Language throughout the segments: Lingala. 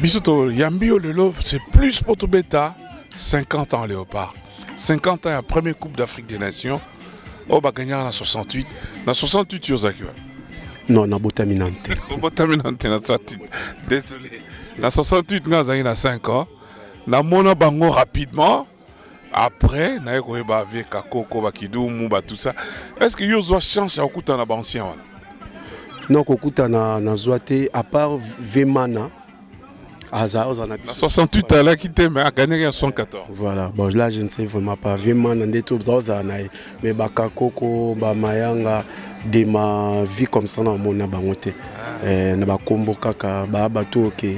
biso toyambi yo lelo c'est plus mpo tobeta 50 ans léopard 50 ans ya premier coupe d'afrique des nations oyo bagagnaka na 68 na 68 yo ozalaki wapi non nabotami na nte obotami na nte na 68 désolé na 68 ngai azalaki na 5 ans namona bango rapidement après naye koyeba vie kakoko bakidumu batout ça est ce que yo ozwa chance ya kokutana na baancien wana non kokutana nazwa te à part vemana aza aza na biso 68 alaki te mais aganaki ya 114 voilà bon là je ne sais vraiment pas vemana nde tozala na ye mais bakakoko bamayanga de ma vie comme ça na omona bango te ah. eh, na bakombo kaka baa bato oke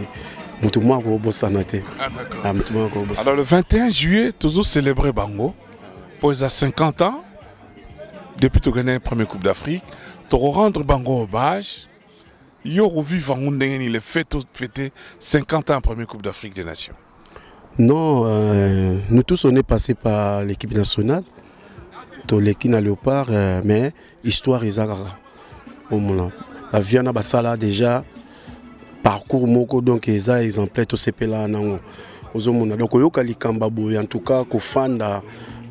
moto mwa akobosana te ah, ah, moto mwa akobosana alors le 21 juillet tozo célébrer bango mpo eza 50 ans depuis togagna premier coupe d'afrique tokorendre bango hommage yo okovive yango ndenge nini le fait ofete 50 ans premier coupe d'afrique des nations Non, euh, nous tous on est passé par l'équipe nationale. Toleki na Léopard, euh, mais histoire ezakaka. Omona. Ba Viana basala déjà parcours moko donc eza exemplaire to sepela nango. Ozomona. Donc oyoka likamba boye en tout cas ko fanda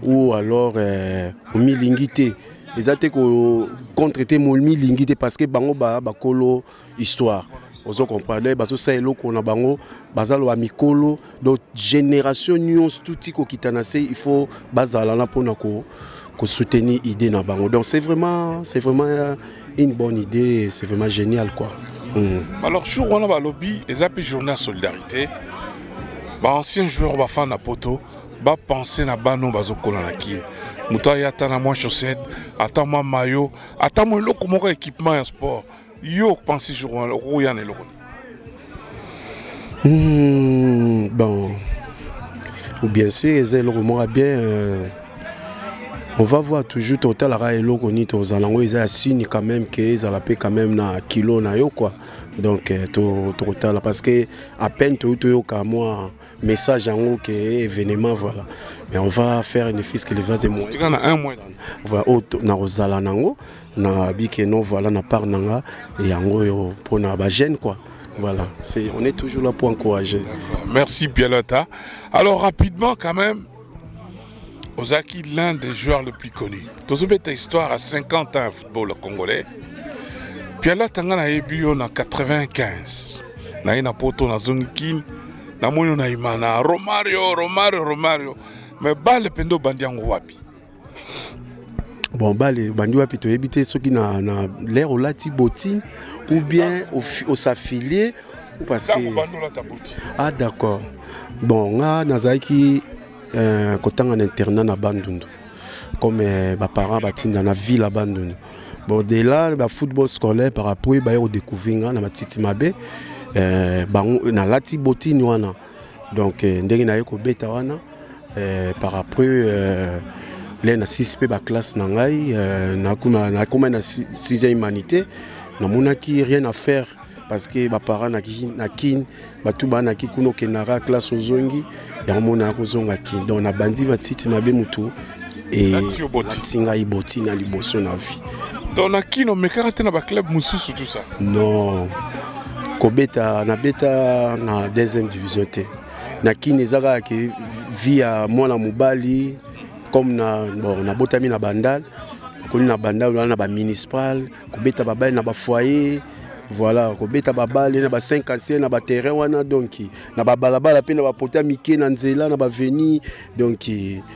ou alors euh, omilingi te. Eza te ko contre te momilingi te parce que bango ba bakolo histoire ozo comprendre bazosa eloko na bango baza loba mikolo donc génération nyonso tuti kokitana se il faut bazala na mpona ko soutenir idée na bango donc c'est vraiment c'est vraiment euh, une bonne idée c'est vraiment génial quoi mm. alors jour wana balobi eza mpe journée ya solidarité baancien joueur bafana poto bapense na bano bazokola na kini moto aya ata na mwa chaussette ata mwa mayo ata mwa eloko moko ya équipement ya sport yo opensi jour wana okoya na eloko nini hmm, bon bien sûr eza eloko moko ya bien euh, on va voir toujours totalaka eloko nini tozala yango eza ya signe quand même ke ezala mpe quand même na kilo na yo quoi donc euh, tokotala parce que à peine toyei toyoka mwa message yango ke événement voilà mais on va faire une fils que les vase moyen voilà, oyo nakozala nango na bike non voilà na part na nga yango oyo mpona bagene quoi voilà c'est on est toujours là pour encourager merci bialata alors rapidement quand même ozalaki l'un des joueurs le plus connu tozobeta histoire à 50 ans ya football congolais bialata nga nayebi yo na 95 naye na poto nazongi kini namoni yo na imana romario romario romario me bale mpenza obandi yango wapi bon bale bandi wapi toyebi te soki na, na lere olati botine ou bien osaffilie parce que ah d'accord bon nga nazalaki euh, kotanga na internat na bandundu comme euh, baparent batinda na ville ya bandundu bon de là bafootball scolaire par rapport baye kodécouvrir nga na matiti mabe euh, bango nalati botine wana donc euh, ndenge naye kobeta wana euh, par après euh, le na 6 mpe baklasse na ngai nakomai na 6e humanité namonaki rien à faire parce que baparent na kin bato banaki kuna okendaka classe ozongi yango mona ya kozonga kin donc nabandi batiti mabe motu elakisi ngai boti na liboso na vie donc na kino omekaka te na baclub mosusu tout ça non kobeta nabeta na deuxième division te na kini eza kaka ke vie ya mwana mobali comme na bon nabotami na bandal koni na bandal wana na bamunicipal kobeta babali na bafoyer voilà kobeta babale na ba 5 ancien na baterrain wana donki na babalabala mpe na bapota mike na nzela na baveni donki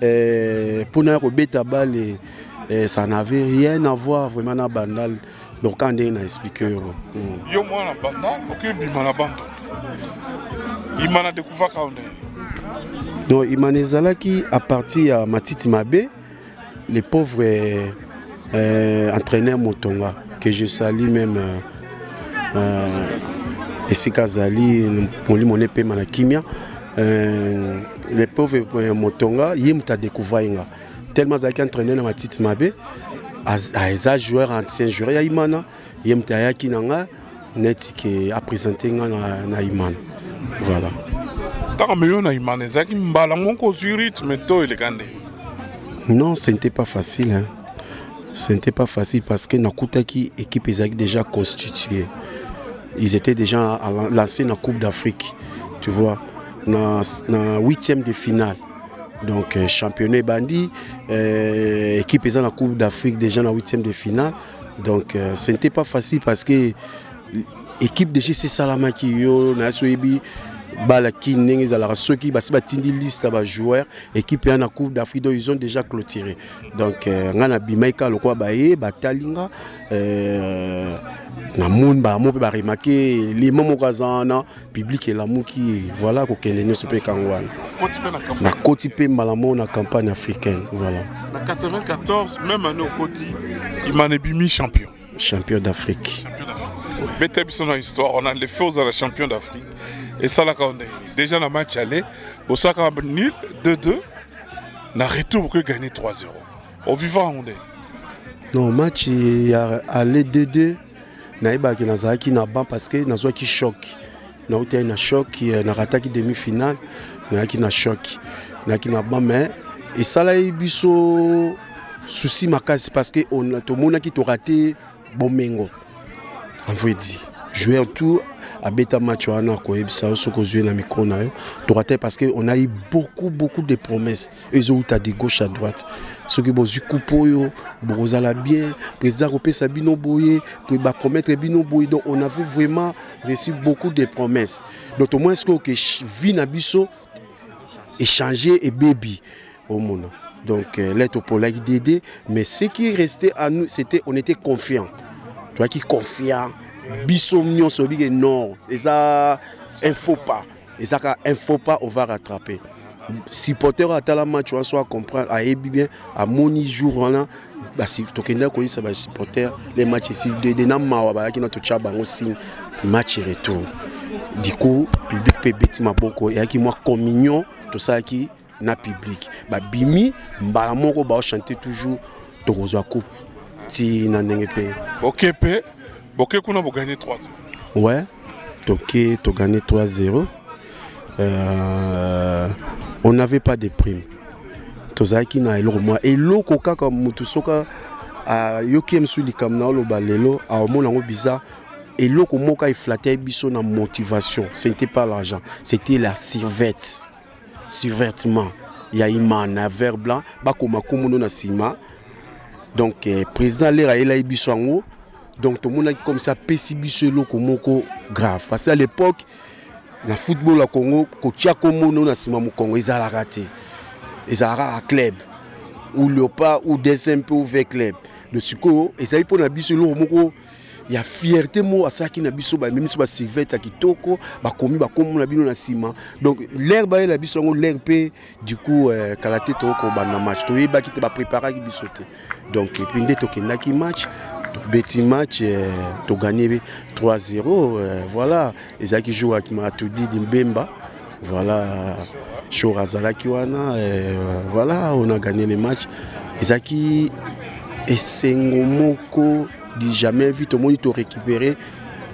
eh, pona ya kobeta bale eh, ça n'avait rien à voir vraiment na bandal donc quand ndenge na explique yo mm. yo mwana bandal okebima na bandal ima na dekuvaka yo ndenge donc imana ezalaki à partir ya matiti mabe les pauvres eh, eh, entraîneur motonga que je salis même euh, euh, esika azali molimo na epema na kimia euh, le pauvre euh, motonga ye moto adécouvra ye nga tellement azalaki entraîne na matiti mabe eza joueur ancien joueur ya imana ye moto ayaki na nga neti ke apresente nga na, na imana voilà ntango ameyo na imana ezalaki mbala moko ozwi rythme to eleka nde non ce n'était pas facile hein. ce n'était pas facile parce que nakutaki équipe ezalaki déjà constituée ils étaient déjà lancés na coupe d'afrique tu vois na, na 8e de finale donc euh, championnat ebandi euh, équipe eza na coupe d'afrique déjà na 8e de finale donc euh, ce n'était pas facile parce que équipe de gc esalamaki yo na so oyebi bala kini ndenge ezalaka soki basi batindi liste ya bajoueur équipe ya na coupe d'afrique donc ils ont déjà clôturé donc euh, ngai nabimaki kaka lokola baye batali nga euh, namoni bango mpe baremake lima moko aza wana public elamuki ye voilà kokende nyonso mpe kango wana nakoti mpe mbala moko na campagne africaine voilà na 94 même année okoti imana ebimi champion champion d'afrique beta biso na histoire on a les feux ozala champion d'afrique esalaka yo ndenge nini déjà na match aller bosalaka nul 2-2 na retour bokoki gagner 3-0 ovivaka yango ndenge non match ya aller 2-2 nayebaki nazalaki na ban parce que nazwaki choc nautaki na choc eh, nakataki demi finale nayaki na choc nayaki na ban mais esalaki biso souci makasi parce que tomonaki torate bomengo envoye dit joueur tout abeta match wana akoyebisa yo soki ozwi na mikro na yo torate parce que on a eu beaucoup beaucoup de promesses ezo uta de gauche à droite soki bozwi coupe oyo bokozala bien président akopesa bino boye bapromettre bino boye donc on avait vraiment reçu beaucoup de promesses donc tomoni sikoyo ke vie na biso échange ebebi omona donc euh, lete opolaki dede mais ce qui restait à nous c'était on était confiant toyaki confiant biso nyonso obike non eza un faux pas eza ka un faux pas on va rattraper supporter oyo atala match wana so acomprendre ayebi bien amoni jour wana tokendaki koyisa basupporter le match esili dede na mawa bayaki na totya bango signe match retour du coup public mpe ebeti maboko eyaki mwa communion tosalaki na public babimi mbala moko baochante toujours tokozwa coupe ti na ndenge mpe boke mpe boke kuna boganye 3 we toke toganye 3 0 euh, on n'avait pas de prime tozalaki na eloko mwa eloko kaka motu soka ayoki ye mosusu likambo na oloba lelo aomona yango bizarre eloko moko eflate biso na motivation ce n'était pas l'argent c'était la sirvette survêtement ya imana ya vert blanc bakoma nkombo no na nsima donc eh, président lere ayelaki biso yango donc tomonaki comme ça apesi biso eloko moko grave parce que à l'époque na football ya congo kotia nkombo no na nsima mokongo ezalaka te ezalaka a club ou leopard ou dcmp ou v club donc sikoyo ezali mpo na biso eloko moko ya fierté moko asalaki na biso bamemi biso baservete ya kitoko bakomi bakombo na bino na nsima donc lere bayela biso yango lere mpe du coup euh, kala te toyei kobanda match toyebaki te bapreparaki biso te donc epuis nde tokendaki match tobeti match euh, toganye 3-0 euh, voilà ezalaki jour ya matudi dimbemba Voilà, Shore azalaki wana, euh, voilà, on a gagné les matchs. Ezaki esengo moko du jamais vu, tout le monde tout récupéré.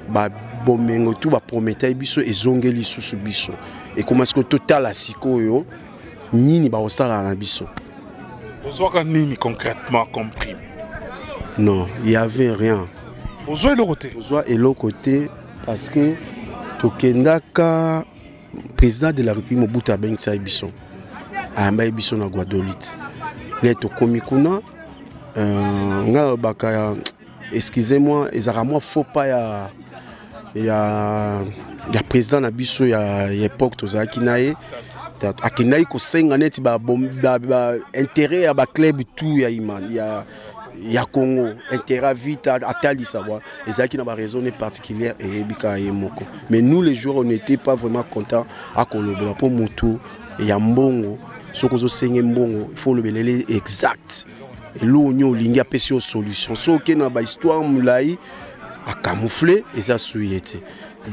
Bah, bomengo tout ba promettait biso ezongeli susu biso. Et comment est-ce que total à sikoyo nini ba osala na biso? Ozoka nini concrètement comme prime? Non, il y avait rien. Ozo eloko te. Ozo eloko te. Parce que tokendaka président de la République Mobutu abengisaki biso ayambaki biso na Guadolite nde tokomi kuna euh, ngai nalobaka excusez moi ezalaka mwa faux pas ya ya ya président na biso ya époque tozalaki na ye akendaki kosenga neti baintérêt ya baclub tout ya imani ya ya congo intérêt vita atalisa bwa ezalaki na baraisonne particulière eyebika ye moko mais nous les joueurs on n'était pas vraiment content akolobela mpo motu ya mbongo soki ozosenge mbongo il faut olobelele exact eloko nyo olingi apesi yo solution so oke na bahistoire molai acamoufle eza sui ye te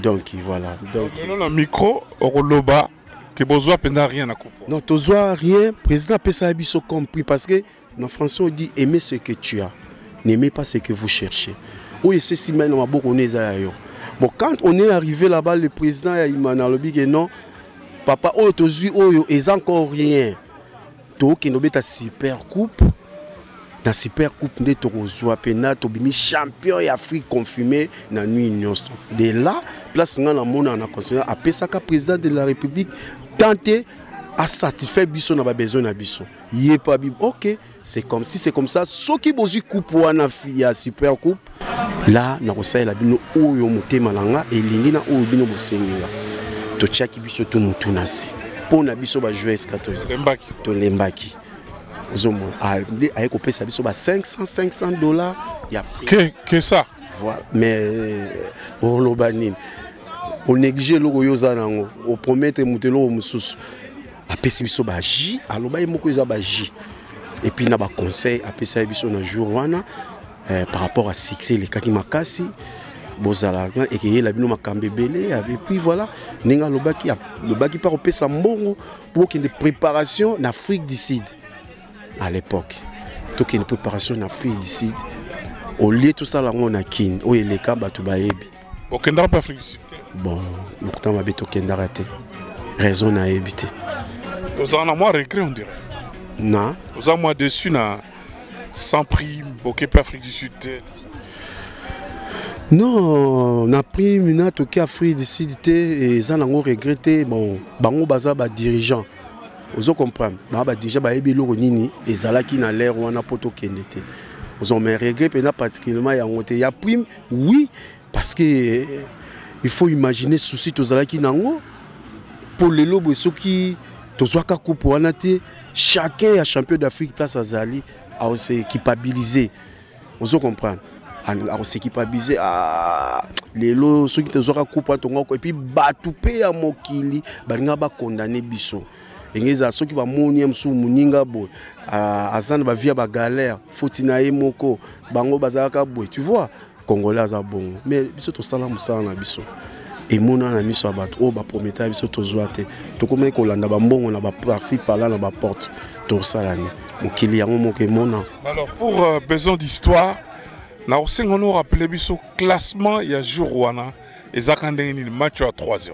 donc voilà donc na micro okoloba ke bozwa mpenza rien na coupe non tozwa rien président apesaka biso compris parce que Na français on dit aimer ce que tu as, n'aimez pas ce que vous cherchez. Oyo esesi mai na maboko ne eza ya yo. Bon quand on est arrivé là-bas le président ya Imana alobi que non papa oyo tozui oyo eza encore rien. Tokende obeta super coupe na super coupe nde tokozwa mpena tobimi champion ya afrique confirmé na nuit nyonso de là place ngai namonaka na constitution apesaka président de la république tant te asatisfait biso na babesoin na biso ye pa bib ok c'est comme si c'est comme ça soki bozwi coupe wana ya super coupe la nakosalela bino oyo motema na nga elingi na oyo bino bosengela totyaki biso tu motu na se mpo na biso bajoueur escatosi tolembaki ozomona ah, aye kopesa biso ba 500 500 dollars ya que, que ça voilà mais euh, oloba nini onéglige eloko yo oza na yango opromettre moto eloko mosusu apesi biso ba jus aloba ye moko eza ba jus et puis na ba conseil apesa biso na jour wana eh, par rapport à succès elekaki makasi bozala ekeyela bino makambo ebele et puis voilà ndenge alobaki alobaki mpe akopesa mbongo mpo bokende préparation na afrique du sud à l'époque tokende préparation na afrique du sud olie tosala yango na kin oyo eleka bato bayebi okendaka mpe afrique du sud te bon lokuta mabe tokendaka te raison nayebi te ozala na mwa regret on dirait na oza mwa dessus na sans prime boke mpe afrique du sud te non na prime na toki afrique du sud te eza nango regret te bon bango baza badirigeant ozo comprendre baa badirigeant bayebi eloko nini ezalaki na lere wana mpo tokende te ozomai regret mpenza particulièrement yango te ya prime Oui, parce que euh, il faut imaginer souci tozalaki nango mpo lelo boye soki tozwaka coupe wana te chacun ya champion d'afrique place azali aosekipabilise ozo comprendre akosekipabilise ah, lelo soki tozwaka coupe wana tongo epuis bato mpe ya mokili balingaka bakondane biso ndenge ezala soki bamoni ye mosusu moninga boye aza na bavie ya bagalere foti na ye moko bango bazalaka boye tu vois congolais aza bongo mais biso tosala mosala na biso emonana na miso ya bato oyo baprometa ya biso tozwa te tokomaki kolanda bambongo na baparci pala na baporte tosala nini mokili yango moko emona alors pour euh, besoin d'histoire nakosenga no rappeler biso classement ya jour wana ezaka ndenge nini match ya 3 0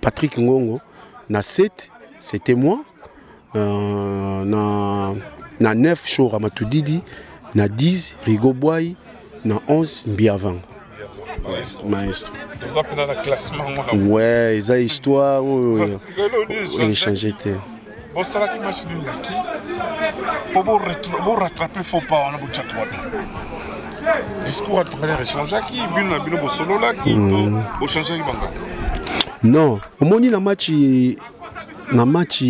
Patrick Ngongo na 7 c'était moi euh, na na 9 Shora Matudidi na 10 Rigo Boy na 11 Mbiavanga maestro ouais eza histoire oyo oh, oh, oh. echange te bosalaki match nul na ki mpo borattrape faux pas wana botyaki wapi discours entraîneur echangeaki bino na bino bosololaki to mm. bochangeaki bangaka non omoni na match na match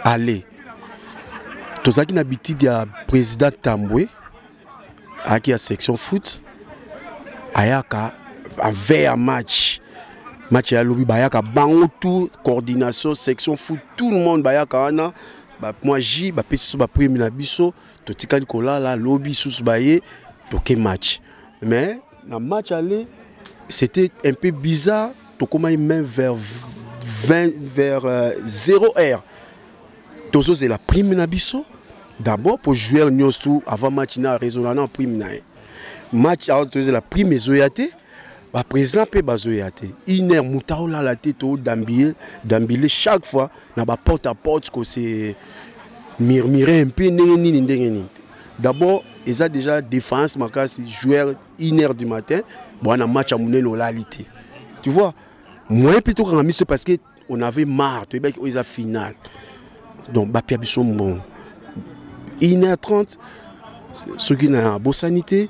aller tozalaki na bitide ya président tambwe ayaki ya section foot ayaka ave ya match match ya lobi bayaka bango tout coordination section foot tout le monde bayaka wana mwa ji bapesi biso baprime na biso totikali kolala lobi susu baye toke match mais na match aller c'était un peu bizarre tokomaki même vers 20 vers euh, 0 heure tozozela prime na biso d'abord mpo joueur nyonso tu avant match na raisonna na prime na ye match awa tozela prime ezoya te baprésident mpe bazoya te une heure moto aolala te todambile dambile chaque fois na baporte à porte kose murmure mpe ndenge nini ndenge nini te d'abord eza déjà défense makasi joueur une heure du matin bwana match ya monene olali te tu vois moyen mpe tokanga miso parce que on avait marre toyebaki oyo eza finale donc bapia biso mbongo 1h30 soki na bosani te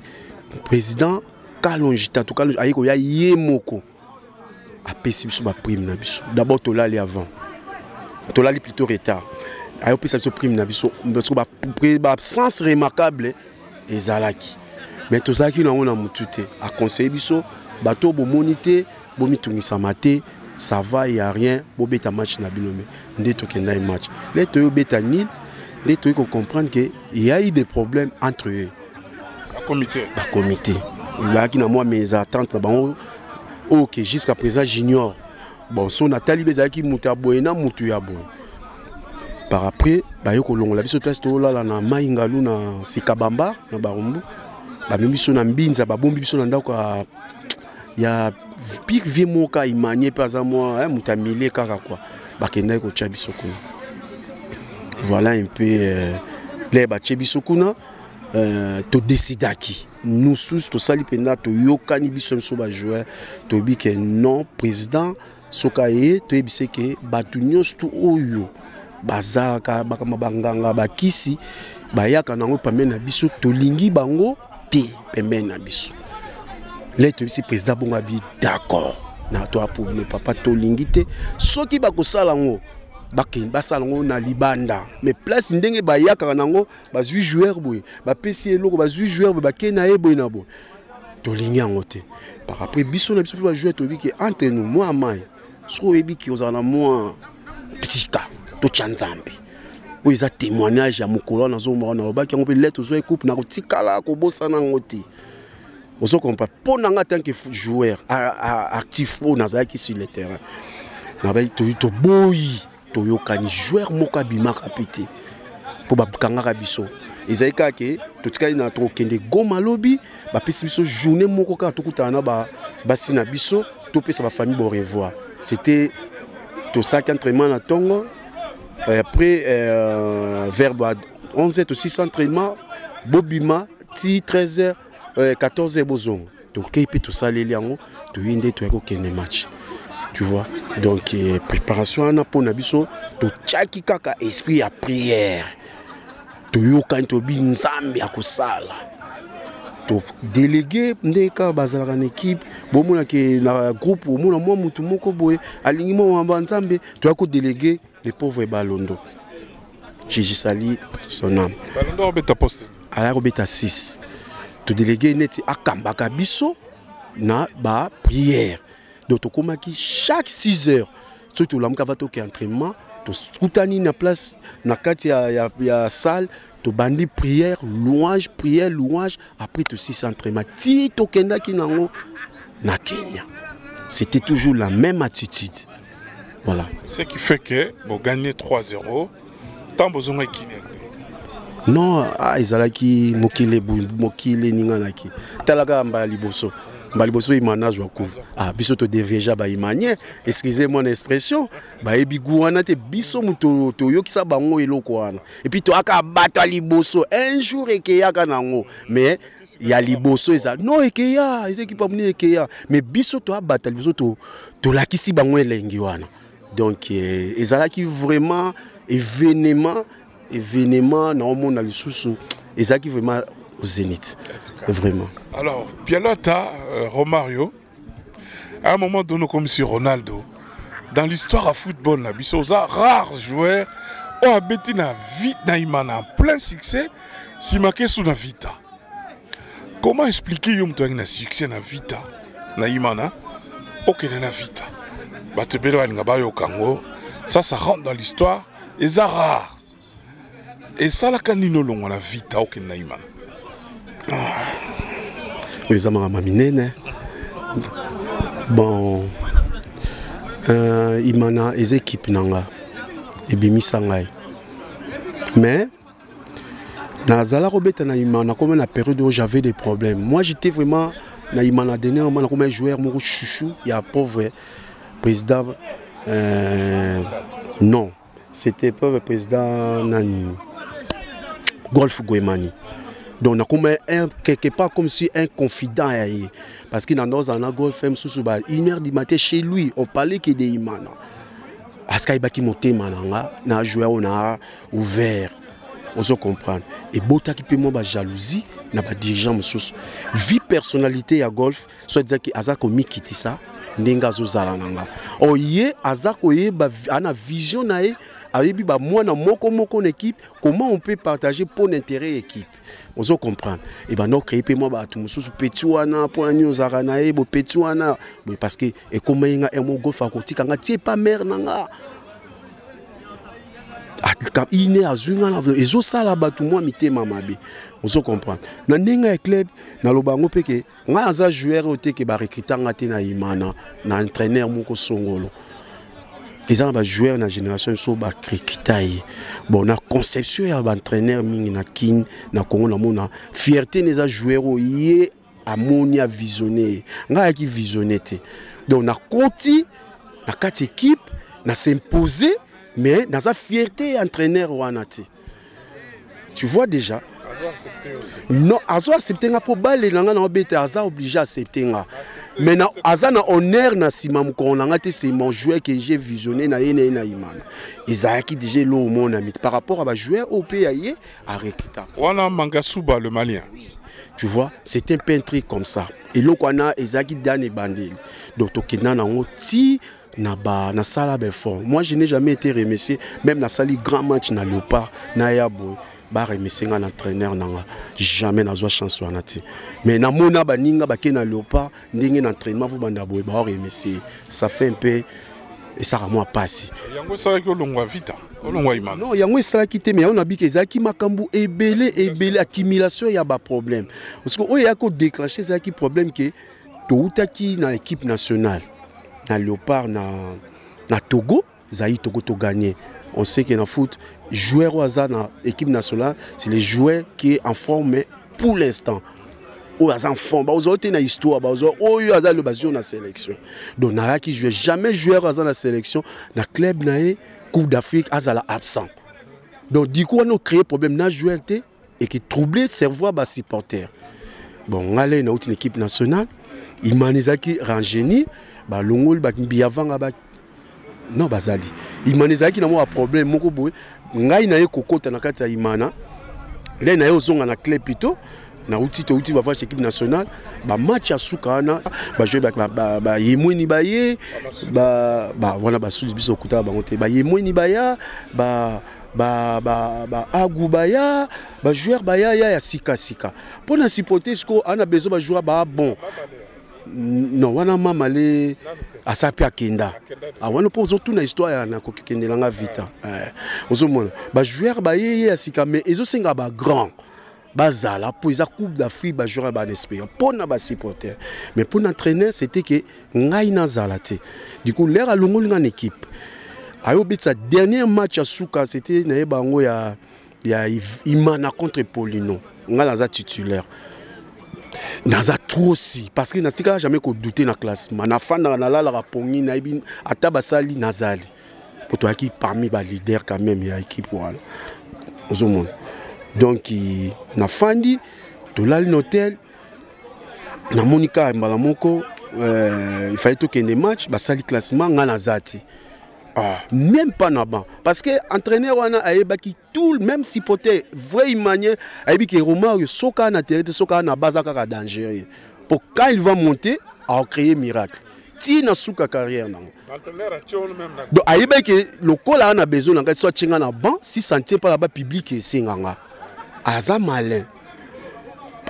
président kalonji tatu kalonji aye koya ye moko apesi biso baprime na biso d'abord tolali avant tolali plutôt retard ayopesa biso prime na biso parce que baabsence remarquable ezalaki mais tozalaki nango na mutu te aconseille biso bato bomoni te bomitungisama te ça va ya rien bobeta match na bino me nde tokendaki match le toyo beta nil nde toyei kocomprendre ke ya eu des problèmes entre eux bacomité bacomité ezalaki na mwa mes attente na bango oyo oh, ke jusqu'à présent junior bon so natali mpe ezalaki moto ya boye na moto ya boye par après baye kolongola biso place tolala na mai ngalu na sika bambar na barumbu bamemi biso na mbinza babombi biso na ndako ya, ya pire vie moka imanie mpe aza mwa eh, moto ya milie kaka kua bakendaki kotya biso kuna voilà un peu euh, le batye biso kuna euh, todesidaki nous sous tosali mpenza toyokani biso biso bajoueur toyebi ke non président soki aye toyebise ke bato nyonso tu oyo bazalaka bakama banganga bakisi bayaka nango pembeni na biso tolingi bango te pembeni na biso le toyebisi président bongo abi d'accord na to aprobleme papa tolingi te soki bakosala yango basala yango na libanda mais place ndenge bayakaka nango bazwi joueur boye bapesi ye eloko bazwi joueur boye bakei na ye boye na boye tolingi yango te par après biso na biso mpe bajoueur toyebi ke entre nous mwa mai soki oyebi ke ozala na mwa tika totya nzambe oyo eza témoignage ya mokolo wana nazomba wana alobaki yango mpe lete ozwa ekupe nakotikala kobosana yango te ozo comprendre mpo na ngai tanke joueur actif oyo nazalaki sur le terrain nabai toboyi toyokani joueur moko abimaka mpe te mpo bakangaka biso ezali kaka ke totikali na tokokende goma lobi bapesi biso journée moko kaka tokutana na basi na biso topesa bafamille bo revoir c'était tosalaki entraînement na ntongo euh, après euh, vers 11 to 6 entraînement bobima ti 13 heures euh, 14 heures bozonga tokei mpe tosaleli yango toyei nde toyaki kokende match tu vois donc eh, préparation wana mpo na biso totyaki kaka esprit ya prière toyokani tobi nzambe ya kosala todelege nde kaka bazalaka na ekipe bomonake na groupe omona mwa motu moko boye alingi mwa mamba nzambe toyaki kodelege Le pauvre Balondo. Jésus sali son âme. Balondo obeta poste. Aya obeta 6. To délégué neti akambaka biso na ba prière. Donc tokomaki chaque 6 heures soki tolamuka va toke entraînement tokutani na place na kati ya, ya, ya salle tobandi prière louange prière louange après tosisi entraînement ti tokendaki nango na kenya c'était toujours la même attitude voilà ce qui fait que boganye 3-0 ntango bozongaki kine non ah, ezalaki mokili mokili eninganaki tala kaka mbala liboso mbala liboso imana azwa kuva ah, biso todeveja baimanie excusez moi na expression bayebi gu wana te biso moto toyokisa bango eloko wana epuis toyaka bato ya liboso un jour ekeyaka na yango mais ya liboso eza no ekeya eza ekipa monene ekeya mais biso toya bato ya liboso to, tolakisi bango elengi wana donc eh, ezalaki vraiment événement événement na omona lisusu ezalaki vraiment au zénith vraiment alors pialata euh, romario À un moment donné, comme si Ronaldo, dans l'histoire à football, na biso, oza rare joueur, oyo abeti na vie na imana plein succès, sima kesu na vita. Comment expliquer yo moto na succès na vita, na imana, okende na vita. Bato ebele balinga bayoka yango, ça ça rentre dans l'histoire, eza rare. esalaka nini olongwa na vita okende na imana ah. oyo eza makambo minene bon euh, imana eza ekipe na nga ebimisa ngai mais nazala kobeta na imana comme na période oyo j'avais des problèmes moi j'étais vraiment na imana dernièrement nakoma joueur moko chouchou ya pauvre président euh, non C'était pas le président Nani Golf Guemani. donc nakoma quelque part comme si un confident ya ye parce que na nozala na golf mosusu ba une heure du matin chez lui on parlait que de imana aske ayebaki motema na nga na joueur oyo na ouvert ozo comprendre ebotaki mpe mwa bajalousie na badirigeant mosusu vie personnalité ya golf soit disant ke aza komikitisa ndenge azozala na nga or ye aza koyeba ana vision na ye ayebi bamwana moko moko na équipe comment on peut partager mpo na intérêt ya équipe ozo comprendre e banda ocreye mpe mwa bato mosusu peti wana mpo na nini ozalaka na ye bopeti wana boye parce que ekomaki nga emo golf akotika nga tie pa mare na nga ine azwi nga na ezosala bato mwa mitema mabe ozo comprendre na ndenge ya club naloba yango mpe ke ngai naza joueur oyo te ke barekrita nga te na imana na entraîneur moko songolo eza na bajoueur na génération biso bakrikita ye bon na conception ya baentraîneur mingi na kin na congo namona fierté na eza joueur oyo ye amoni avisionne ye ngai ayaki visionne te donc nakoti na kati équipe na s'impose mais naza fierté ya entraîneur wana te tu vois déjà non azo accepte nga mpo bale na nga na obete aza oblige accepte nga mais na, aza na honneur na nsima mokolo na nga te c'est mon joueur que j'ai visionné na ye na ye na imana ezalaki déjà elo omonami par rapport à bajoueur oyo mpe ya ye arekita wana mangasuba le malien oui. tu vois c'est un peintre comme ça eloko wana ezalaki dane ebandeli donc tokenda na yango ti na ba na sala ba effort moi je n'ai jamais été remercié même na sali grand match na leopard na ya boye ba remercier nga na entraîneur na nga jamais nazwa chance wana te mais namona baninga bake na leopard ndenge na entraînement vo banda boye bao remercier ça fait un peu esaka mwa pasi yango esalaki olongwa vita olongwa imana non yango esalaki te mais yango nabiki ezalaki makambo ebele ebele accumulation ya baproblème parce que oyo eyaki kodéclenche ezalaki problème ke Towutaki na equipe nationale na Leopard na, na Togo, Zaïre Togo to gagné. On sait que na foot, joueur au hasard na équipe nationale, c'est le joueur qui est en forme mais pour l'instant. oyo aza enfant bakozwa te na histoire bakozwa oyo aza le bazio na sélection donc nayaki joueur jamais joueur aza na sélection na club na ye coupe d'afrique azala absent donc du coup wana ocréer problème na joueur te et qui troublait cerveau ba supporters bon ngale na outil équipe nationale imanizaki rangeni balongoli bambiyavanga ba non bazali imana ezalaki na mwa problème moko boye ngai na ye kokota na kati ya imana le na ye ozonga na club plutôt nauti touti bavage équipe nationale bamatch ya suka wana bajoi bayemweni baye wana basusu biso okutaka bango te bayemweni baya ba ba ba agu baya ba joueur baya ya ya sika sika mpo na supporter siko ana besoin ba joueur ba bon non wana mama le asa mpe akenda ah, wana mpo ozotuna histoire ya nakoki kendela nga vita eh, ozomona ba joueur baye ye ya sika mais ezosenga ba grand bazala mpo eza coupe d'afrique bajoueur ya bana espérant mpo na basupporter mais mpo na entraîneur c'était ke ngai nazala te du coup lere alongoli ngai na équipe ayobetisa dernier match ya suka c'était naye bango ya, ya imana contre polino ngai naza titulaire naza trop si parce que natikala jamais kodouter na classement nafandaka nalalaka pongi nayebi ata basali nazali mpo toyaki parmi ba leader quand même ya équipe wana ozomona donc nafandi tolali na hotel namoni kaka mbala moko euh, il fallait tokende match basali classement ngai naza te ah, même pas na banc parce que entraîneur wana ayebaki tout même si pote vrai imanie ayebi ke romario soka na terrain te soka na baza kaka dangereux pour quand il va monter à créer miracle ti na suka carrière nango donc ayebaki ke lokola a na besoin na ngai so atye ngai na banc si santie mpo na ba public esenga nga aza malin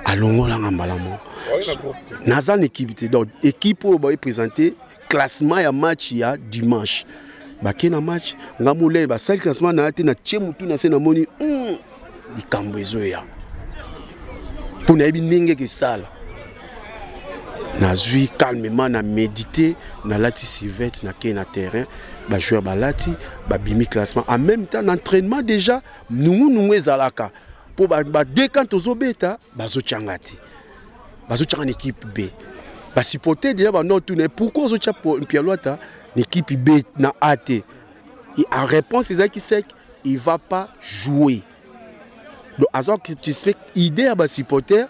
alongolanga mbala moko naza na équipe te donc équipe oyo baye présente classement ya match ya dimanche bake na match nga molai basali classement na ya te natie motu na se namoni hmm, likambo ezoya mpo nayebi ndenge ekesala nazwi calmement na médite nalati sivete nakei na terrain bajoueur balati babimi classement en même temps na entraînement déjà nungunungu ezalaka mpo badekante ba tozobeta bazotyanga te bazotyaka na ekipe b basipote deja banor tuna pourkui ozotya mpialuata na ekipe b na a te en réponse ezalaki sec il va pas jouer donc aza satisfait idée ya basipoter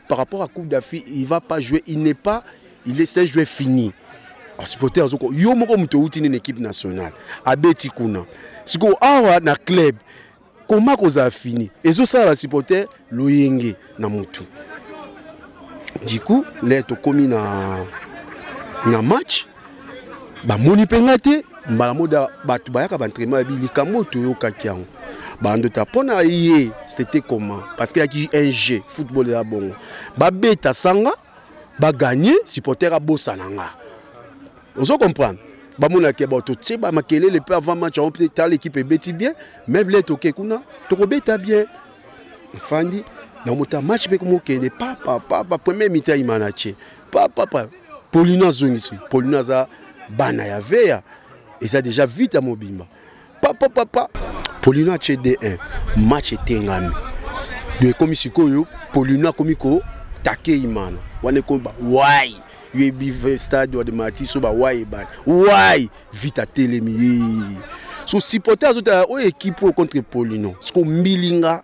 par rapport à coupe d'afrique il va pas jouer il n'est pas il est un joueur fini supporter azoko yo moko moto outi nini équipe nationale abeti kuna sikoyo awa na club koma kozala fini ezosala basupporter loyenge na motu du coup le tokomi na, na match bamoni mpe ngai te mbala moda bato bayaka baentraînement yabi likambo oyo toyokaki yango bando ta mpo na ye c'était comment parce que yaki un jeu football ya bongo babeta sanga ba gagner supporter a bossa nanga ozo comprendre ba mona ke ba to tse ba makelele pe avant match on peut tal équipe beti bien même les toke kuna to ko beta bien fandi na mota match pe ko mo kende papa papa premier mi-temps il m'a nache papa papa Paulina zongisi Paulina za bana ya veya eza déjà vite à mobimba papa papa polino atie d1 match etengami do ekomi sikoyo polino akomi kotake imana wana ekomi ba wai yebi stade de matiso ba wai ebani wai vita telemi ye so supporter azotala oyo ekipe oyo contre polino siko mbilinga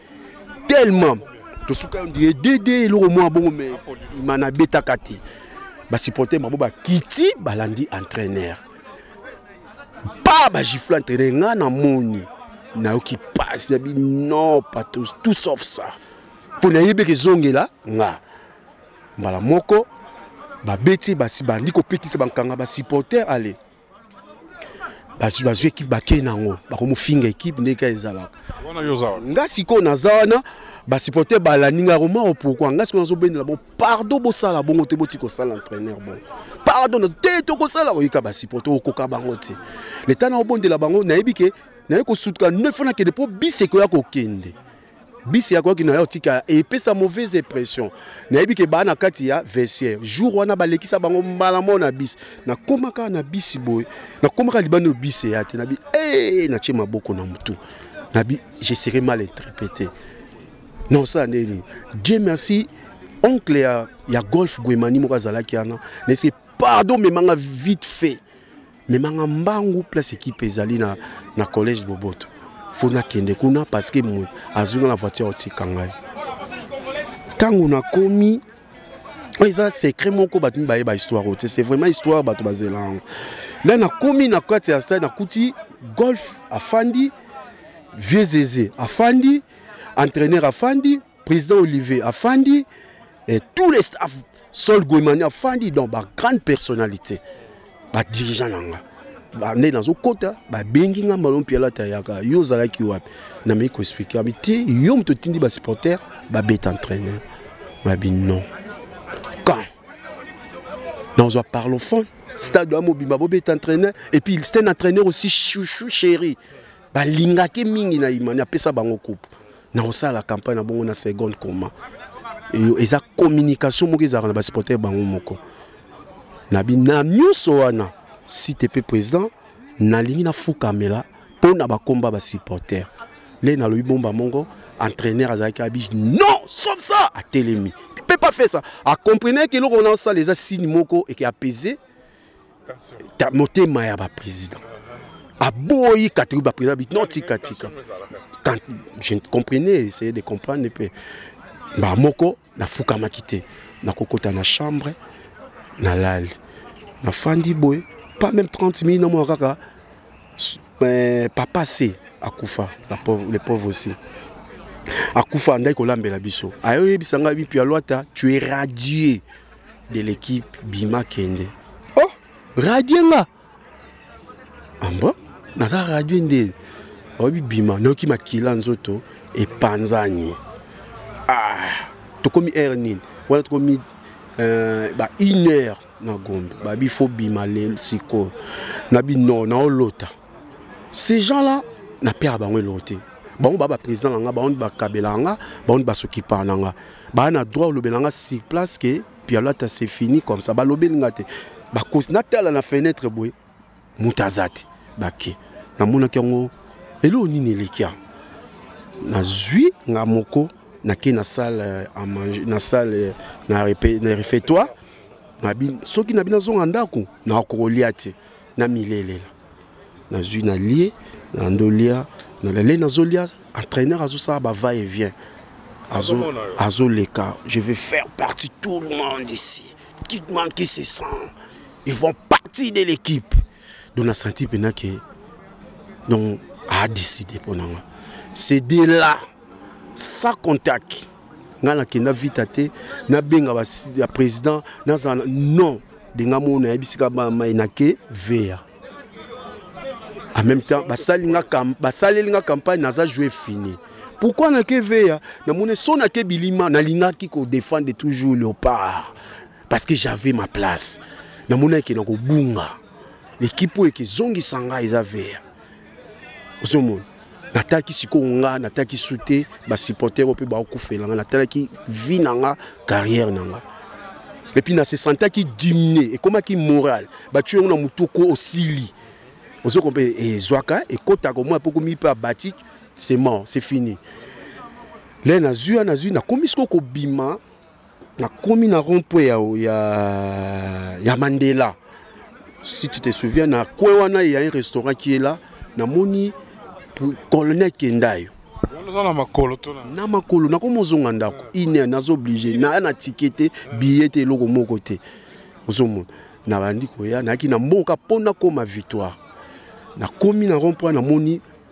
tellement tosuka yo ndiye dede eloko mwa bongo me ima nabetaka te basupporter mabo bakiti balandi entraîneur pa bagifle entraîneur ngai namoni nayoki mpasi yabi non patos tout sauf ça mpo nayebi eke ezongela nga mbala moko babeti basi bandi kopekisa bankanga basupporter ale bazwi bazwi ekipe bakei na yango bakomofinga ekipe ndeka ezalaka nga sikoyo naza wana basupporter balandi ngai romao pourkui ngai sikoyo nazobendela bon pardon bosala bongo te boti kosala entraîneur bongo pardon te tokosala oyika basupporter okoka bango te leta na obondela bango nayebi ke naye kosutuka neuf nakende mpo bisi ekoya kokende bisi ya koki na yo tika epesa mauvaise impression nayebi ke baa na kati ya vestiaire jour wana balekisa bango mbala moko na bisi nakomaka na bisi boye nakomaka libanda oyo bisi eya te nabi e eh, natie maboko na motu nabi je serai mal interprété na osala nde nini dieu merci oncle ya, ya golf guemani moko azalaki wana nayese pardon memanga vite fait memanga mbangu place ekipe ezali na, na collège boboto fo nakende kuna parce que moto azwi nga na voiture otika ngai ntango nakomi oyo eza secret moko bato mibaye bahistoire oyo te c'est vraiment histoire bato bazela yango la nakomi na kati ya stade nakuti golf afandi vieux zeze afandi entraîneur afandi président olivier afandi et tous les staff Sol Goimani afandi donc ba grande personnalité ba dirigeant na nga bande nazokota babengi nga malo mpe alata ayaka yo ozalaki wapi nameki koexplike abi te yo moto otindi basupporter babeta entraîneur babi non quand nazwa parlophone stade oya mobimba bobeta entraîneur et puis c'est un entraîneur aussi chouchou chéri balingaki mingi na imani apesa bango coupe na kosala campagne na bongo na seconde coma eza communication moko ezalaka na basupporter bango moko na bina nyonso wana site mpe président nalingi nafukamela mpo na bakomba basupporter le nalobi bomba mongo entraîneur azalaki abi non sauf ça atelemi mpe pas fait ça akomprenaki eloko na osala eza signe moko eke apaiser ta motema ya ba président aboyi katiki ba président bit non tika tika quand je comprenais essayer de comprendre pe ba moko na fukamaki te na kokota na chambre na lali na fandi boye pas même 30 minutes na mwa kaka euh, papa se akufa la pauvre les pauvres aussi akufa andaki kolambela biso ayoyebisa ngai bipi alwata tu es radier de l'équipe bima kende oh radie nga ambo naza radie nde oyebi bima nayoki makila nzoto epanzani ah, tokomi heure nini wana tokomi euh, ba une heure na gombe babi fo bima le sikoyo na bino naolota ces gens là na père bango eloko te bango baa baprésident na nga bango nde bakabelaka nga bango nde basokipaka na nga baa na droit olobela nga sur place ke pialata c'est fini comme ça balobeli nga te bakosi natala na fenêtre boye moto aza te bake namonaki yango eloko nini eleki yango nazwi nga moko nake na salle euh, à manger na salle euh, na refectoire soki na bino azonga ndako nakokolia te Na milele na zui na lie na ndolia na lele na zolia entraîneur azo ça ba va et vient azo azo leka je vais faire partie tout le monde ici qui demande qui se sent ils vont partie de l'équipe donc na senti pena que donc a décidé pour nanga c'est de là sans contact nga na kenda vite te na benga ba président na non denga mona ya bisika ba mai na ke vea en même temps basali nga kam basaleli nga campagne naza jouer fini pourquoi na ke vea na mona so na ke bilima na linga ki ko défendre toujours le part parce que j'avais ma place na mona ke na ko bunga l'équipe oyo ke zongi sanga eza vea ozomona natalaki sikoyo nga natalaki su te basupporter oyo mpe bakufela nga natalaki vie na nga carrière na nga epuis na se sentaki diminue ekomaki moral batyo yango na motu oko osili ozoko mpe ezwaka eh, ekotaka omoi mpe okomi mpe abati c'est mort c'est fini le nazwi nazwi nakomi sikoyo kobima nakomi na rond point ya, ya, ya mandela si tu te souviens na coin wana ya un restaurant qui est là namoni colonel kendayo na makolo nakomi ozonga ndako ine naza oblige naya na tike te biye te eloko moko te ozomona nabandi koya nayaki na mboka mpo nakoma victoire nakomi na rond point namoni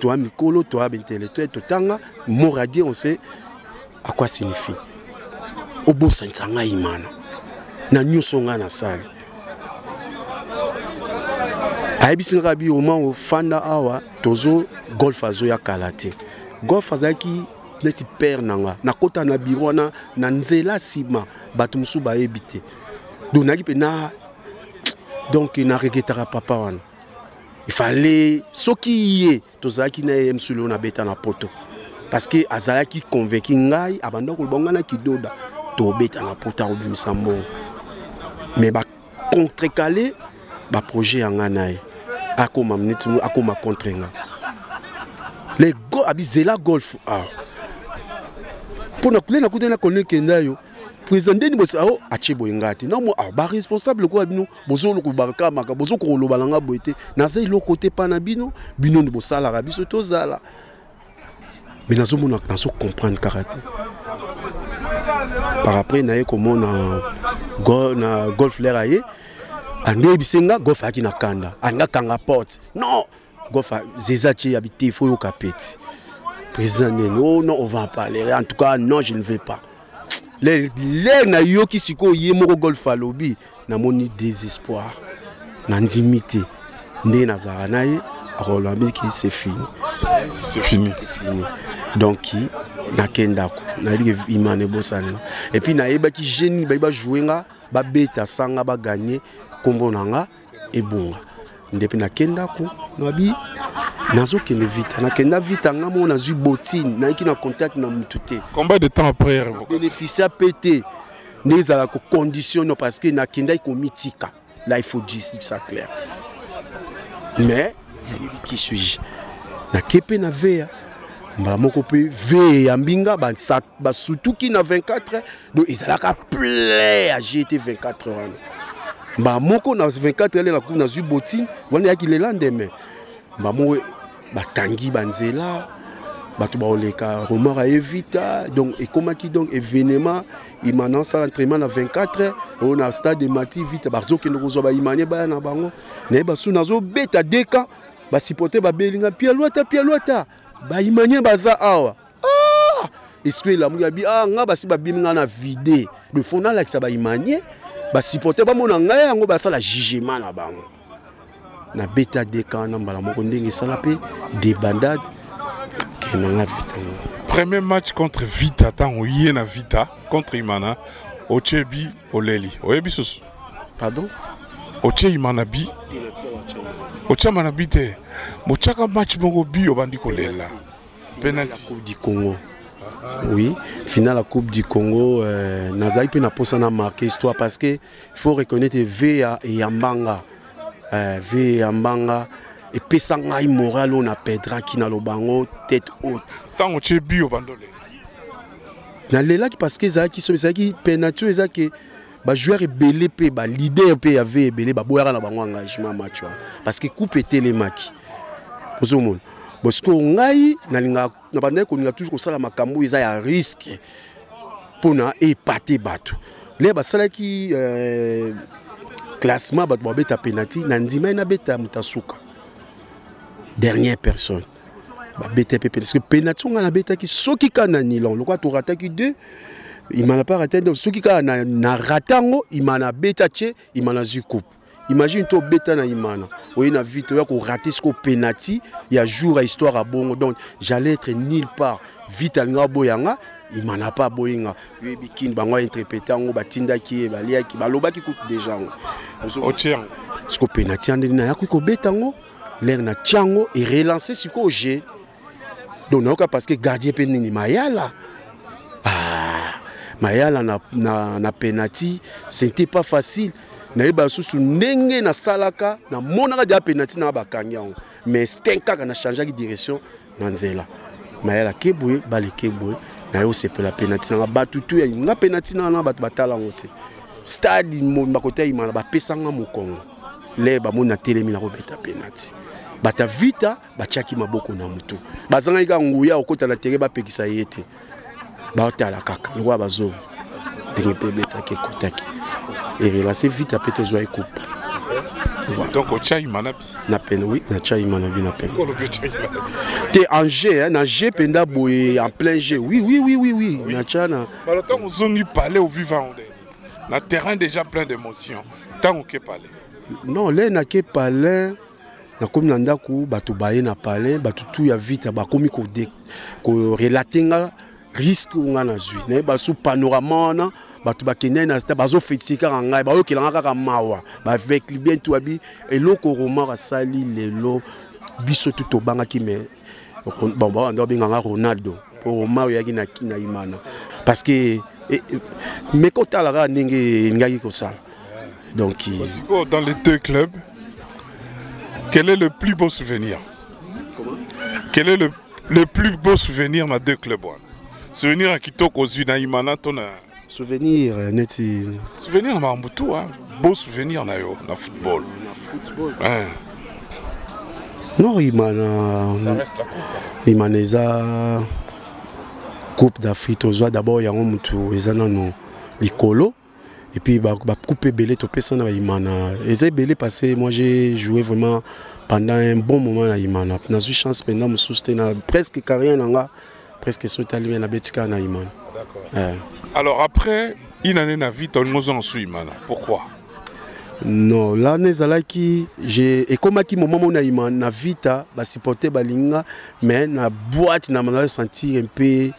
Toi mikolo, toi intellectuel, totanga, mot radio, on sait à quoi signifie. Obosanisa ngai imana. Na nyonso ngai nasali. ayebisi kaka bi oma ofanda awa tozo golf azoya kala te golf azalaki neti père na nga nakota na biro wana na nzela nsima bato mosusu bayebi te donc nayaki mpe na donc na regretaka papa wana ifale soki ye tozalaki na ye msuli oyo nabeta na poto parce que azalaki convaincu ngai abanda koloba ngai na kidoda tobeta na poto akobimisa mbongo mais bacontrecale baprojet ya ngai na ye akoma neti akoma contre nga le go abizela golf awa mpo na kule nakutani na kolekenda yo président ndeni bosi ao atie boye ngai te namo ao baresponsable lokola bino bozo lokoba ka maka bozo koloba na nga boye te naza eloko te pa na bino bino nde bosalaka biso tozala me nazomona nazo comprendre kaka te par après naye komona na golf lere aye andeyebise nga golf ayaki na kanda alinga kanga porte non Gofa zeza ce ya bite faut yoka peti. Président nene oh non on va en parler en tout cas non je ne vais pas. Le le na yoki siko ye moko golf alobi na moni désespoir. Na ndimi te. Nde na zara na ye akolobami ke c'est fini. C'est fini. C'est fini. Donc nakenda ko na yebiki imane bosana. Et puis na yebaki génie ba ba jouer nga ba beta sanga ba gagner kombo na nga ebonga ndepe nake ndako nabi nazokende vita nakenda vita nga moko nazwi botine nayiki na contact na motu te combien de temps après bénéficia mpe te nde ezala koconditionne parce que nakendaki komitika là il faut dire ça clair mais nayebi qui suis-je nake mpe na veya mbala moko mpe veye ya mbinga basutuki na 24 donc ezalaka plein ya gt 24 wana mbala moko na 24 ele nakufi nazwi botine wana eyaki le lendemain mbala moko bakangi banzela bato bakoleka romar aye vita donc ekomaki donc événement imana asala entraînement na 24 oyo na stade de mati vita bazokende kozwa baimanie baya na bango naye basu nazobeta deka basupporte babeli nga pialuata pialuata baimanie baza awa ah! esprit elamuki abi ah nga basi babimi nga na vide de fond nalakisa baimanie basupporter bamona ngai yango basala jugement na bango nabeta deka na mbala moko ndenge esala mpe debandade kema nga vita premier match contre vita ntango ye na vita contre imana otie bi oleli oyebi susu pardon otie imana bi otyama na bi te botyaka match moko bi obandi kolela penalty coupe du congo oui finale ya coupe du congo euh, nazali mpe na mposa na marke histoire parce que faut reconnaître ve ya eyambanga euh, ve eyambanga epesa ngai moral oyo na pedraki na lobango tête haute ntango tie bio bandole nalelaki parce que ezalaki somi ezalaki penalty oyo ezalaki bajoueur ebele mpe balider mpe ya ve ebele baboyaka na bango engagement match wana parce que coupe etelemaki ozomona bon sikoyo ngai nalingaka na bandaki kolinga toujours kosala makambo eza ya riske mpona epate bato le basalaki euh, classement bato babeta penalti na ndimai nabeta moto asuka dernière personne babeta mpe pene soki penati ngai nabetaki soki kaka na nilon lokola torataki deux imana mpe arata donc soki kaka na rata yango imana abeta tie imana azwi coupe imagine to obeta na imana oye na vite oya korate siko penati ya jour ya histoire ya bongo donc j'allais être nulle part vite alinga aboya nga imana mpe aboyi nga oyebi kini bango ainterprete yango batindaki ye baliaki balobaki kutu deja yango otie yango siko penati ya ndenge nayakoki kobeta yango lere na tiango e relance sikoyo je donc nayoka parce que gardien mpe nini mayala ah, mayala na, na, na penati c'était pas facile nayeba lisusu ndenge nasalaka namonaka deja penati na bakangi yango mais stin kaka na changeaki direction na nzela mayala kebwe bale kebwe naye osepela mpe na ntina nga bato tu ya nga mpe na ntina wana bato batala yango te stade bakota imana bapesa nga mokongo le bamoni natelemi nakobeta penati bata vita batyaki maboko na motu bazangaki kaka nguya okota na tere bapekisa ye te baotala kaka lokola bazonga ndenge mpe ebetaki ekotaki erelance vita mpe tozwa ekupe donc ochai manabi na pene oui na chai manabi na pene te en jeu hein, na jeu mpenza boye en plein jeu oui oui oui oui oui, oui. na cha na balo ntango ozongi palais oviva onde na terrain déjà plein d'émotion ntango ke palais non lei nake palais nakomi na ndako bato baye na palais bato tu ya vita bakomi korelate nga riske oyo ngai nazwi nayeba su panorama wana bato bakendai na bazofetisi kaka ngai bayokelanga kaka mawa bavecli bien tu abi eloko romar asali lelo biso tu tobangaki me bango nde babenga nga ronaldo mpo roma oyo eyaki na imana parce que e, e, meka otala kaka ndenge elingaki kosala donc sikoyo dans les deux clubs quel est le plus beau souvenir quel est le, le plus beau souvenir na deux clubs wana souvenir ya kitoko ozwi na imana to na Souvenir euh, neti souvenir na makambo tout hein. beau souvenir na yo na football. Na football. Hein. Non imana. Ça reste la coupe. Imana eza coupe d'Afrique tozwa d'abord yango mutu eza nano likolo et puis ba, ba coupe ebele topesa na imana eza ebele parce que moi j'ai joué vraiment pendant un bon moment na imana nazwi chance mpenza mosusu te na presque carrière na nga presque soki tali me nabeti kaka na imana eh. alors après une année na vie tolingi ozonga su imana pourquoi non lana ezalaki ekomaki moment mona ima na vita basupporte balinga mais na boite na manaa sentir mpe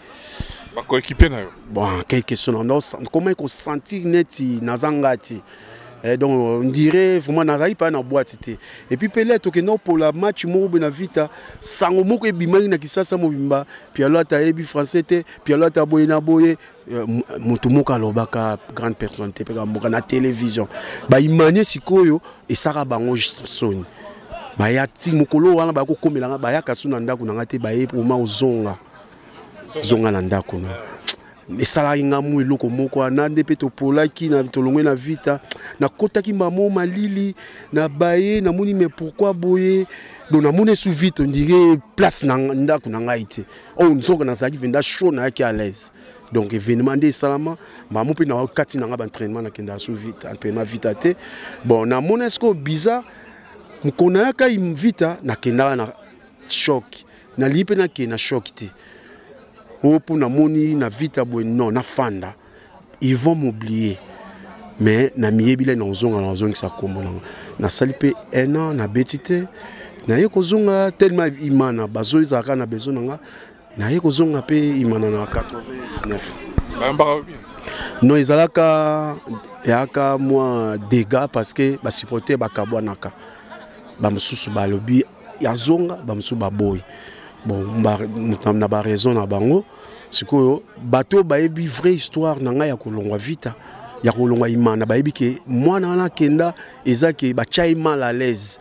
bakoekipe na yo bon quelque sona nakomaki kosentir neti naza ngai te Eh, donc on dirait vraiment nazalaki mpa na boite te epuis mpe lete okenda opola match moko boye na vita sango moko ebimaki na kisasa mobimba pialo ata ayebi français te pialo ata boye na boye eh, moto moko alobaka grande personnalité mpe kamboka na télévision baimanie sikoyo esaka bango soni baya ti mokolo wana bakokomela nga bayaka su na ndako na nga te baye poma ozonga zonga na ndako na esalaki nga mwa eloko moko wana nde mpe topolaki tolongwe na vita nakotaki mbamo malili na baye namoni me pourkui boye donc namoni esu vite ondire place na ndako na ngai te oyo oh, nzoka nazalaki venda chaud nayaki à l'aise donc événement nde esalama mbamo mpe na kati na ngai baentrainement nakendaka su vite entrainement vita te bon namoni esiko bizarre mokona yaka vita nakendaka na choc nalii mpe nakei na shok te oyo mpo namoni na vita boye non nafanda ils vont m'oublier mais namiyebi le nazonga nazongisa nkombo nango nasali mpe un an nabeti te naye kozonga tellement imana bazo ezalaka na besoin na nga naye kozonga mpe imana na 99 non ezalaka yaka mwa dégât parce que basupporter bakabwanaka bamosusu balobi ya zonga bamosusu baboyi bon na baraison na bango sikoyo bato oyo bayebi vraie histoire na ngai ya kolongwa vita ya kolongwa imana bayebi ke mwana wana akenda eza ke batya ye mal à l'aise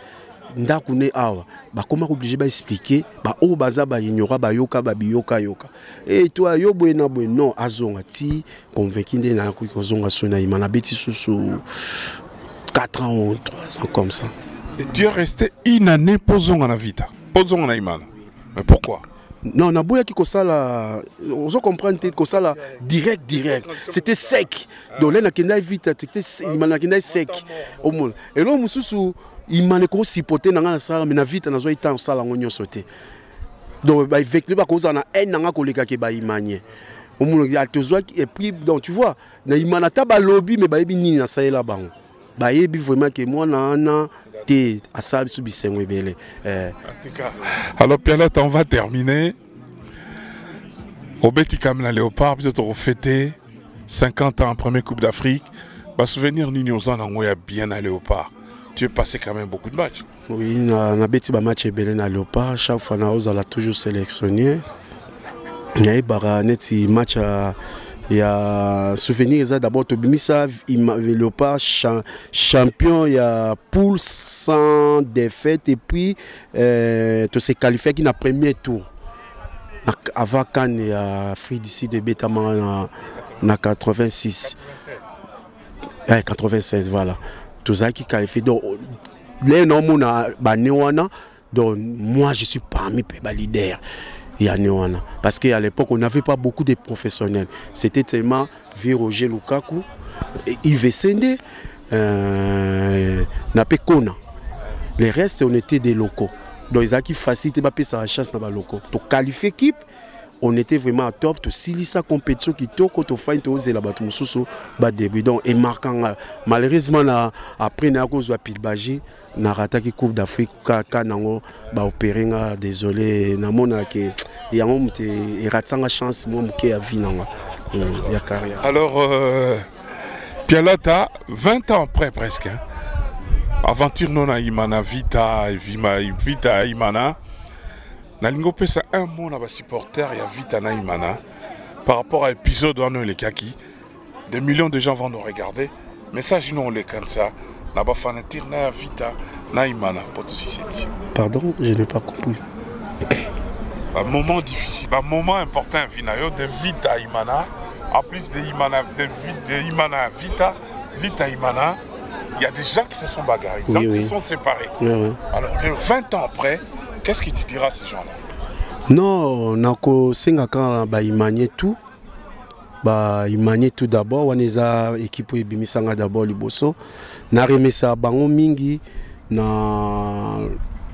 ndako ne awa bakoma oblige baexplike baoyo baza baignorat bayoka babiyokayoka Et toi, yo boye na boye non azonga ti convaincu nde na koki kozonga so na imana beti susu 4 ans ou 3 ans comme ça. Et tu es resté une année pour zonga na vita, pour zonga na imana. Mais pourquoi non naboyaki kosala ozo comprendre te kosala direct direct c'était sec donc le nakendaki vite ima nakendaki sec omona eloko mosusu ima nekoki supporte na ngai nasala me na vite nazwaki ntango osala yango nyonso te donc ba vecteur ba koza na haine nanga koleka ke ba imanie omonaki ah, tozwaki epris donc tu vois na imana ata balobi me bayebi nini nasalela bango bayebi vraiment ke mwana wana te asala biso bisengo ebele eh. alors pialot on va terminer obeti kame na léopard biso tokofete 50 ans premier coupe d'afrique basouvenir nini oza nango ya bien na léopard tu es passé quand même beaucoup de matchs Oui, na, na beti ba match ebele na Leopard, chaque fois na ozala toujours sélectionné. Nayebaka neti match ya ya souvenir eza d'abord tobimisa leopard cha, champion ya poule sans défaite et puis euh, tose qualifiaki na premier tour avant kan ya afrique du sud ebetamaka na, na 86 eh, 96 voilà tozalaki qualifié donc lelo naomona bane wana donc moi je suis parmi mpe balider ya ne wana parce que à l'époque on n'avait pas beaucoup de professionnels c'était tellement vieux roger lukaku ive sende euh, na mpe kona les restes on était des locaux donc ezalaki facile te bapesaka chance na balocaux toqualifie équipe on était vraiment à top tosilisa compétition kitoko tofani tozela bato mosusu badebut donc emarka nga malheureusement na après naya kozwa pilbagi narataki coupe d'afrique kaka nango baopere nga désolé namona ke yango moto eratisa nga chance mwa moke ya vie nanga hmm, ya carrière alors euh, pialata 20 ans après presque hein? aventure nona imana vita vita imana nalingi opesa un mot na basupporter ya vita na imana par rapport à épisode wana elekaki des millions de gens vont nous regarder message ino olekanisa na bafanatir na ya vita na imana mpo tosisi émission pardon je n'ai pas compris un moment difficile un moment important ya vi na yo de vita imana en plus de imana, de, de imana vita Vita Imana, il y a des gens qui se sont bagarrés, des oui, gens oui. qui se sont séparés. Oui, oui. Alors, 20 ans après, qu'est-ce que tu diras à ces gens-là Non, nako senga quand ba imanie tout. Ba imanie tout d'abord, on est à équipe ebimisanga d'abord liboso. Na remesa bango mingi na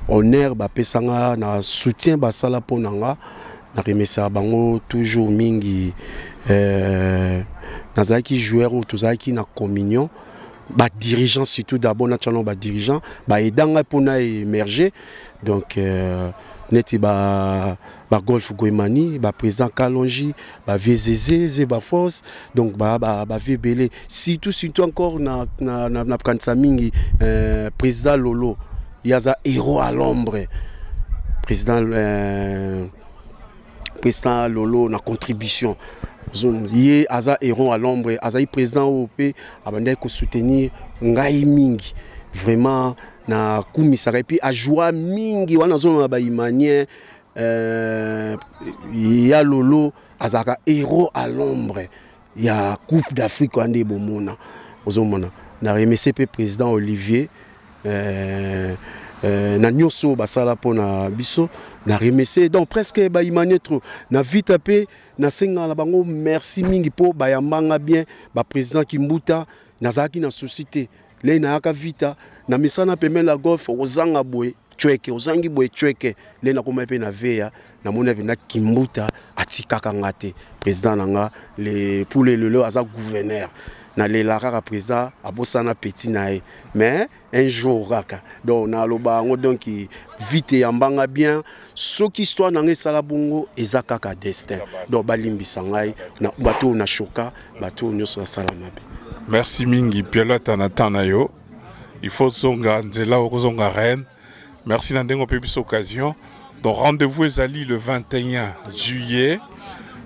honneur ba pesanga na soutien ba sala ponanga. Na remesa bango toujours mingi euh, nazalaki joueur oyo tozalaki na communion ba dirigeants surtout d'abord na tshano ba dirigeants ba edanga mpo na émerger donc euh, neti ba ba golf goemani ba président kalonji ba vieux zeze zeba force donc ba ba ba vebele surtout surtout encore na na na, na kanisa mingi euh, président Lolo yaza héros à l'ombre président euh, président Lolo na contribution ye aza héros à l'ombre azali président oyo mpe abandaki kosoutenir ngai mingi vraiment na kumisaka epuis ajoua mingi wana azolona bahumanien euh, ya lolo azalaka héros à l'ombre ya coupe d'afrique wana nde bomona ozomona na remercie mpe président olivier euh, euh, na nyonso oyo basala mpo na biso na remercie donc presque baimanie trop na vita mpe nasengaka na bango merci mingi mpo bayambanga bien baprésident kimbuta nazalaki na souci te lei nayaka vita na misana pembeni la golf okozanga boye cweke ozangi boye cweke lei nakomai mpe na veya namoni mpenza kimbuta atikaka nga te président na nga le pour le lelo aza gouverneur nalela kaka président abosana petit na ye mais un jour kaka donc naloba yango donc vite yambanga bien soki histoire na ngai esala bongo eza kaka destin donc balimbisa ngai bato oyo na shoka bato oyo nyonso nasala mabe merci mingi pialata na temps na yo il faut zonga nzela okozonga reine merci na ndenge ope biso occasion donc rendez-vous ezali le 21 juillet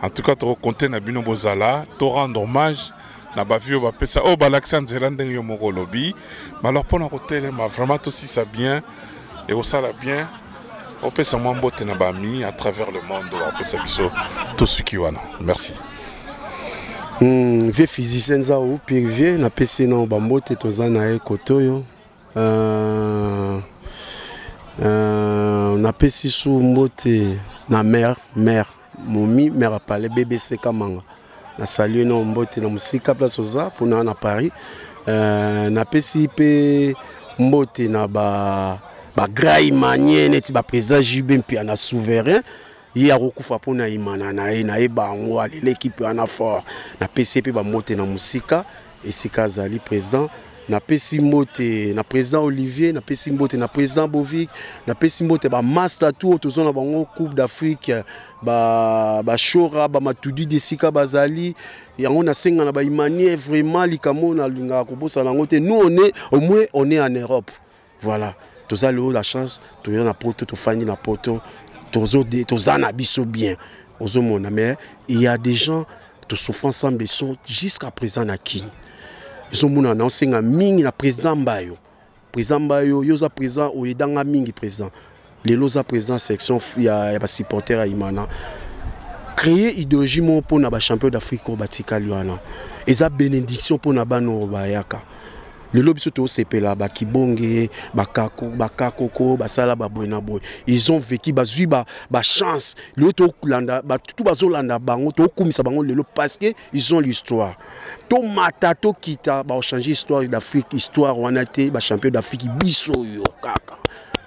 en tout cas tokokonte na bino bozala to rendre hommage na bavi oyo bapesa oyo oh, balakisa nzela ndenge yo moko olobi malor mpo na kotelema vraiment tosisa bien ekosala bien opesa mwa mbote na bami à travers le monde oyo apesa biso tosuki wana merci hmm, vie physicien nzau pire vie napesi nao bambote toza na ye kote oyo euh, euh, napesi su mbote na mare mare momi mère apale bbc kamanga na salue na mbote na mosika place oza mpona na paris euh, napesi mpe mbote na ba bagrai manie neti baprésident jb mpe na souverain ye akokufa mpo na imana na ye na ye bango aleleki mpe wana fort napesi ye mpe bambote na mosika esika azali president napesi mbote na président olivier napesi mbote na président bovic napesi mbote bamasta tu oyo toza na bango coupe d'afrique bashora ba bamatudi ba esika bazali yango nasenga na baimanie vraiment likambo oyo nalingaka kobosana yango te nous one omwe one en europe Voilà, toza leo la chance, toya na poto, tofandi na poto, tozo de, toza na biso bien. Ozo mona mais il y a des gens to souffrant sans besoin jusqu'à présent na kin. Ils ont mona na osenga mingi na président Mbayo. Président Mbayo, yoza président oyedanga mingi président. lelo oza président section ya, ya basupporter ya imana créer idéologie moko mpo na bachampion d'afrique oyo batikali wana eza bénédiction mpo na bana oyo bayaka lelo biso tosepela bakibonge bakakoko basala baboye na boye ils ont vécu bazwi bachance lelo tokolanda batutu bazolanda bango tokokumisa bango lelo parce que ils ont l'histoire tomata tokita baochange histoire d'afrique histoire wana te bachampion d'afrique biso oyo kaka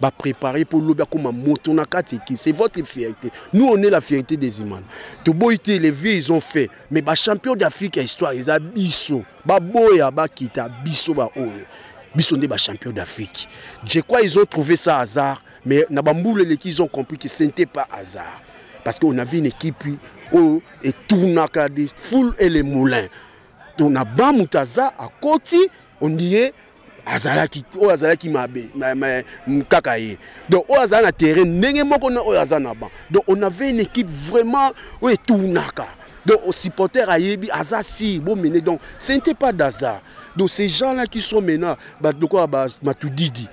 ba préparer pour lobi akoma moto na kati équipe c'est votre fierté nous on est la fierté des imana toboyi te les vieux ils ont fait mais ba champion d'afrique ya histoire eza biso baboya bakita biso baoyo biso nde ba champion d'afrique je crois ils ont trouvé ça hasard mais na bambula eleki ils ont compris que ce n'était pas hasard parce qu'on avait une équipe oyo etournaka de foule et les moulins tona ba moto aza akoti ondie azalaki oyo azalaki mabe kaka ye donc oyo azala na terrain ndenge moko na oyo aza na ban donc on avait une équipe vraiment oyo etounaka donc supporter ayebi aza si bomene donc ce n'était pas d'hasard donc ces gens là qui sont maintenant bato lokola matudidi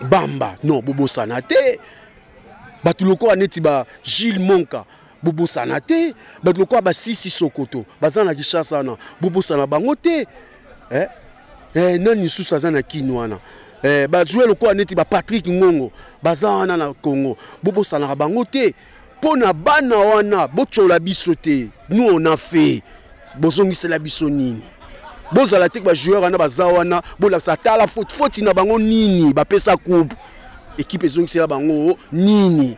bamba non bobosana te bato lokola neti ba gilles monka bobosana te bato lokola basisi sokoto baza na kishasa wana bobosana bango te eh? Eh, nani lisusu aza na kini wana eh, bajouer lokola neti bapatrick ngongo baza wana na congo bobosanaka bango te mpo na bana wana botyola biso te nous on a fait bozongisela biso nini bozala te bajoueur wana baza wana bolakisa tala foti na bango nini bapesa coupe ekipe ezongisela bango nini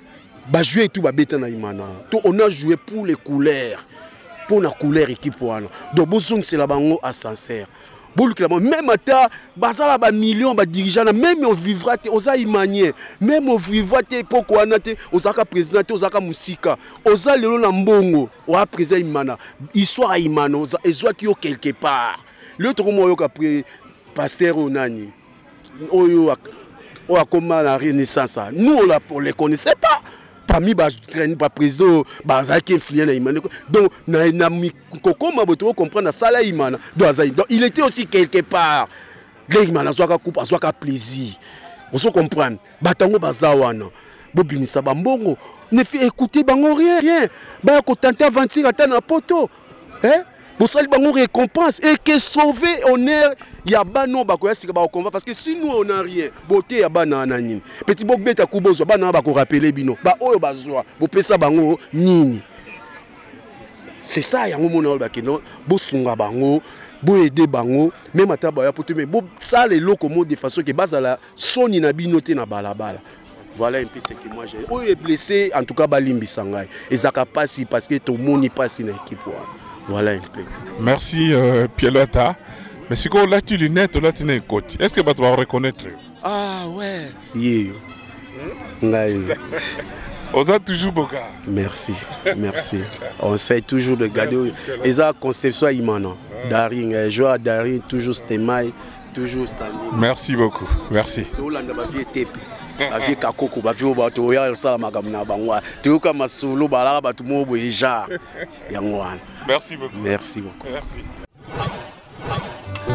bajouer tout babeta na imana to on a joué pour les couleurs mpo na couleur équipe wana donc bozongisela bango ascenseur bolukela bango meme ata bazala bamillion badirigea na meme ovivra te oza imanien meme ovivra te epoko wana te ozalaka président te ozalaka mosika oza lelo na mbongo oya président imana histoire ya imana ezwaki yo quelque part lelo tokomoyoka pre paster oyo nani oyo oyo akoma na renaissance nous on, la, on les connaissait pas parmi baprésident bazalaki influent na imana donc kokoma boye tokocomprendre asala imana donc azali donc il était aussi quelque part nde imana azwaka coupe azwaka plaisir ozo comprendre bato yango baza wana bobimisa bambongo nefi ekoute bango rien rien baya kotante aventure ata na poto eh? bosali bango récompense et que sauver honneur ya bana oyo bakoya sika bakokomba parce que si nous on a rien bote ya bana wana nini peti bobeta ku bozwa bana wana bakorapele bino baoyo bazwa bopesa bango nini c'est ça yango mona oyo bakeno bosunga bango boyede bango meme ata baya poto me bosala eloko mo de façon ke bazala soni na bino te na balabala voilà un peu ce que moi j'ai oyo blessé en tout cas balimbisa ngai ezaka pasi parce que tomoni pasi na équipe wana voilà un peu merci euh, pielota mais sikoyo olati lunette olati na ekoti est ce que bato bakoreconnaitre yo ah ouais yeyo ngai oza toujours boka merci merci on sait toujours de garder eza conception ya imana daring joueur ya daring toujours stemai Toujours standing. Merci beaucoup. Merci. Tolanda ba vie tepe. Ba vie kakoko, ba vie ba to ya sala makambo na bango. Toyoka masolo balaka bato mo boye genre. Yango wana. Merci beaucoup. Merci beaucoup. Merci.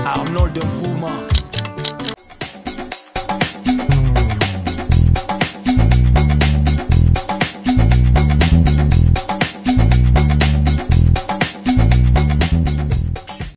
Arnold de Fouma.